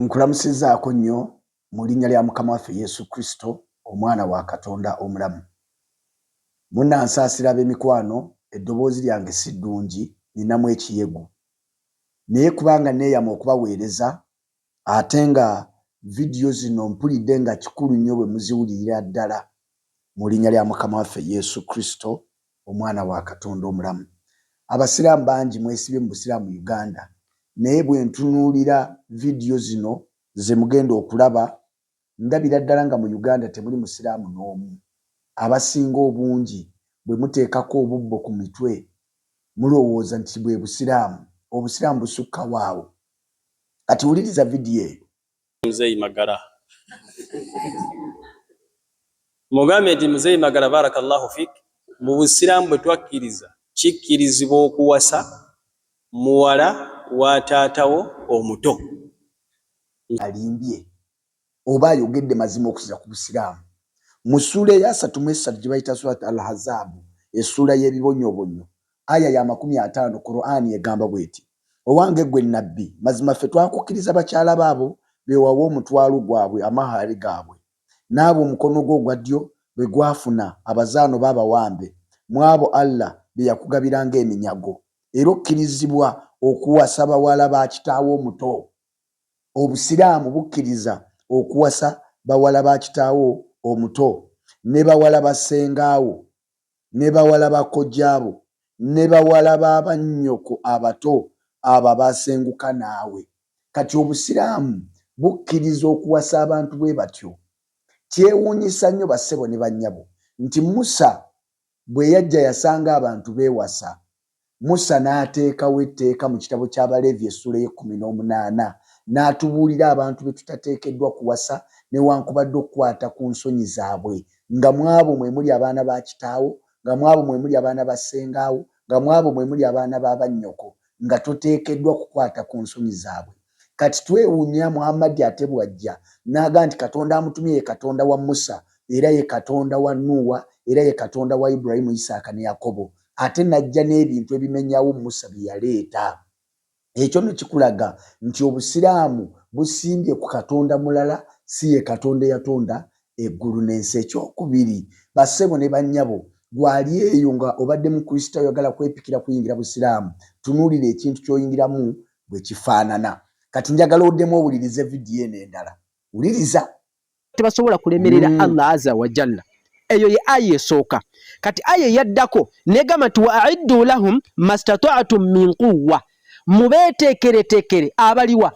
Nkulamusizaako nnyo mu linnya lya Mukama waffe Yesu Kristo, Omwana wa Katonda omulamu. Munansaasira ab'emikwano, eddoboozi lyange si ddungi, nninamu ekiyegu. Naye kubanga nneeyama okubaweereza, ate nga vidiyo zino mpulidde nga kikulu nnyo bwe muziwulirira ddala, mu linnya lya Mukama waffe Yesu Kristo, Omwana wa Katonda omulamu. Abasiraamu bangi mwesibye mu busiraamu Uganda naye bwentunuulira vidiyo zino zemugenda okulaba ndabira ddala nga mu Uganda temuli musiraamu n'omu. Abasinga obungi bwemuteekako obubbo ku mitwe mulowooza nti bwebusiraamu. Obusiraamu busukkawo awo. Kati wuliriza vidiyo eyo. Mzei Magala mugambe nti Mzei Magala barakallahu fik mu busiraamu bwe twakkiriza kikkirizibwa okuwasa muwala wa taatawo omuto. Alimbye oba ayogedde mazima okusiza ku busiraamu mu ssuula eyasatu mu essatu gye bayita surat al hazaabu essuula y'ebibonyobonyo Aya ya makumi ataano, Kur'ani egamba bw'eti, Owange ggwe Nabbi! Mazima ffe twakukkiriza bakyala bo abo be wawa omutwalu gwabwe, amahari gaabwe, n'abo omukono gwo ogwa ddyo be gwafuna, abazaana oba abawambe, mw'abo Allah be yakugabira nga eminyago. Era okkirizibwa okuwasa bawala ba kitaawo omuto. Obusiraamu bukkiriza okuwasa bawala ba kitaawo omuto ne bawala ba ssenga wo ne bawala ba kojjaabo ne bawala ba bannyoko abato abo abaasenguka naawe. Kati Obusiraamu bukkiriza okuwasa abantu bwe batyo. Kyewuunyisa nnyo bassebo ne bannyabo nti Musa bwe yajja yasanga abantu beewasa Musa n'ateekawo etteeka mu kitabo ky'Abaleevi essuula ey'ekkumi n'omunaana, n'atubuulira abantu be tutateekeddwa kuwasa newankubadde okukwata ku nsonyi zaabwe, nga mu abo mwe muli abaana ba kitaawo, nga mu abo mwe muli abaana ba ssengaawo, nga mu abo mwe muli abaana ba bannyoko, nga toteekeddwa kukwata ku nsonyi zaabwe. Kati twewuunya Muhammadi ate bw'ajja n'agamba nti Katonda amutumye ye Katonda wa Musa, era ye Katonda wa Nuuwa, era ye Katonda wa Ibrahiimu, Isaaka ne Yakobo, ate n'ajja n'ebintu ebimenyawo Musa bye yaleeta. Ekyo nno kikulaga nti Obusiraamu busimbye ku Katonda mulala, si ye Katonda eyatonda eggulu n'ensi. Ekyokubiri, bassebo ne bannyabo, ggwe ali eyo nga obadde Mukristaayo oyagala kwepikira kuyingira Busiraamu, tunuulira ekintu ky'oyingiramu bwe kifaanana. Kati njagala oddemu owulirize vidiyo eno endala. Wuliriza. tebasobola kulemerera mm. Allah azza wa jalla eyo ye aya esooka kati aya eyaddako negamba nti wa aiddu lahum mastata'tum min quwwa mubeeteekereteekere abaliwa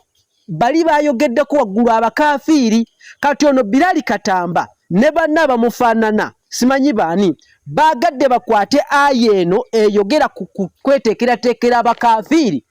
bali bayogeddeko waggulu abakafiiri kati ono Bilali Katamba ne banna abamufaanana simanyi baani baagadde bakwate aya eno eyogera ku kweteekerateekera abakafiiri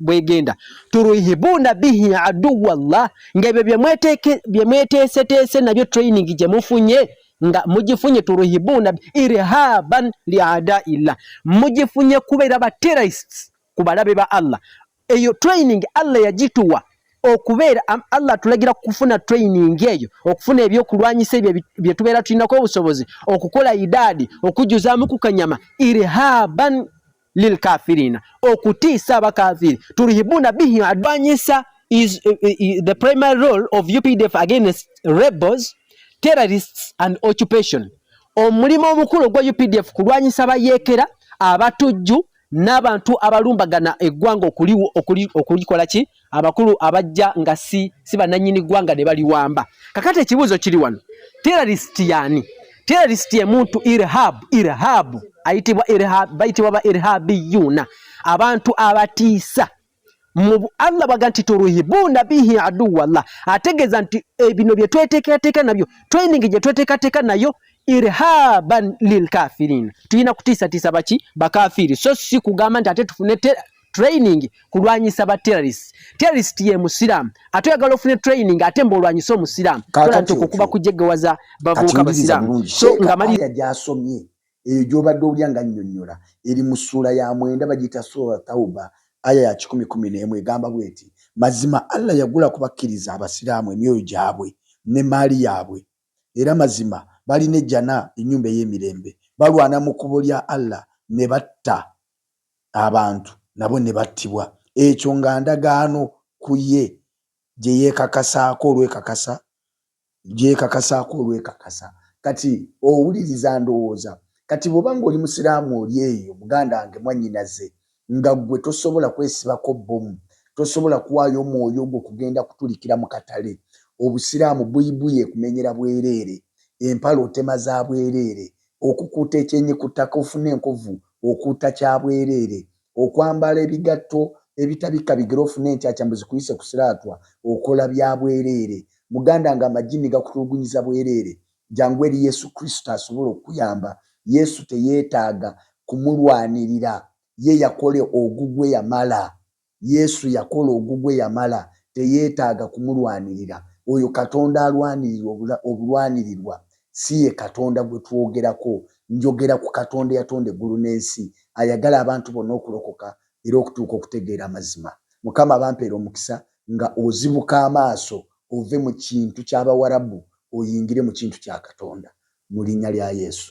bwegenda turuhibuna bihi aduwa llah nga ebyo byemweteeseteese nabyo training gye mufunye nga mugifunye turuhibuna irhaban liadaillah mugifunye kubeera ba terrorists ku balabe ba allah eyo training allah yagituwa okubeera allah atulagira kufuna training eyo okufuna ebyokulwanyisa ebyo bye tubeera tulinako obusobozi okukola idaadi okujjuzaamu ku kanyama irhaban lilkafirina okutiisa abakafiri turihibuna bihi adwanyisa is uh, uh, the primary role of UPDF against rebels terrorists and occupation omulimo omukulu ogwa UPDF kulwanyisa bayekera abatujju n'abantu abalumbagana eggwanga okulikola ki abakulu abajja nga si si bananyini gwanga ne bali wamba kakati ekibuzo kiri wano terrorist yani terrorist ye muntu irhab irhab ayitibwa irhab bayitibwa ba irhabi yuna abantu abatiisa mu Allah baga nti turuhibuna bihi adu wallah ategeza nti ebino eh, bye tweteka teka nabyo training je tweteka teka nayo irhaban lilkafirin tuyina kutisa tisa bachi bakafiri so si kugamba nti ate tufune training kulwanyisa ba terrorist terrorist ye musiramu ate oyagala ofune training ate mba olwanyise omusiramu tola nti okukuba kujegewaza bavubuka abasiramu so nga mali yajasomye eyo gyobadde olya nga nnyonnyola eri mu ssuula ya mwenda bagiyita sura tauba aya ya kikumi kumi n'emu egamba bweti mazima allah yagula ku bakkiriza abasiraamu emyoyo gyabwe ne maali yaabwe era mazima balina ejjana ennyumba ey'emirembe balwana mu kubo lya allah ne batta abantu nabo ne battibwa, ekyo nga ndagaano ku ye gye yeekakasaako olwekakasa, gye yeekakasaako olwekakasa. Kati, owuliriza, ndowooza, kati bw'oba nga oli Musiraamu oli eyo, muganda wange, mwannyinaze, nga ggwe tosobola kwesibako bbomu, tosobola kuwaayo omwoyo gwo kugenda kutulikira mu katale, Obusiraamu buybuye kumenyera bwereere, empale otema za bwereere, Okukuuta ekyenyi ku ttaka ofune enkovu, okuuta kya bwereere. Okwambala ebigatto ebitabikka bigere ofune enkyakya mbu zikuyise ku siraatwa, okola bya bwereere. Muganda nga amajinni gakutulugunyiza bwereere, jangu eri Yesu Kristo asobola okukuyamba. Yesu teyetaaga kumulwanirira, ye yakola ogugwe yamala. Yesu yakola ogugwe yamala teyetaaga kumulwanirira oyo katonda alwanirirwa obulwanirirwa siye katonda gwetwogerako njogera ku katonda eyatonda eggulu nensi ayagala abantu bonna okulokoka era okutuuka okutegeera amazima mukama abampeere omukisa nga ozibuka amaaso ove mu kintu kyabawarabu oyingire mu kintu kya katonda mu linya lya yesu.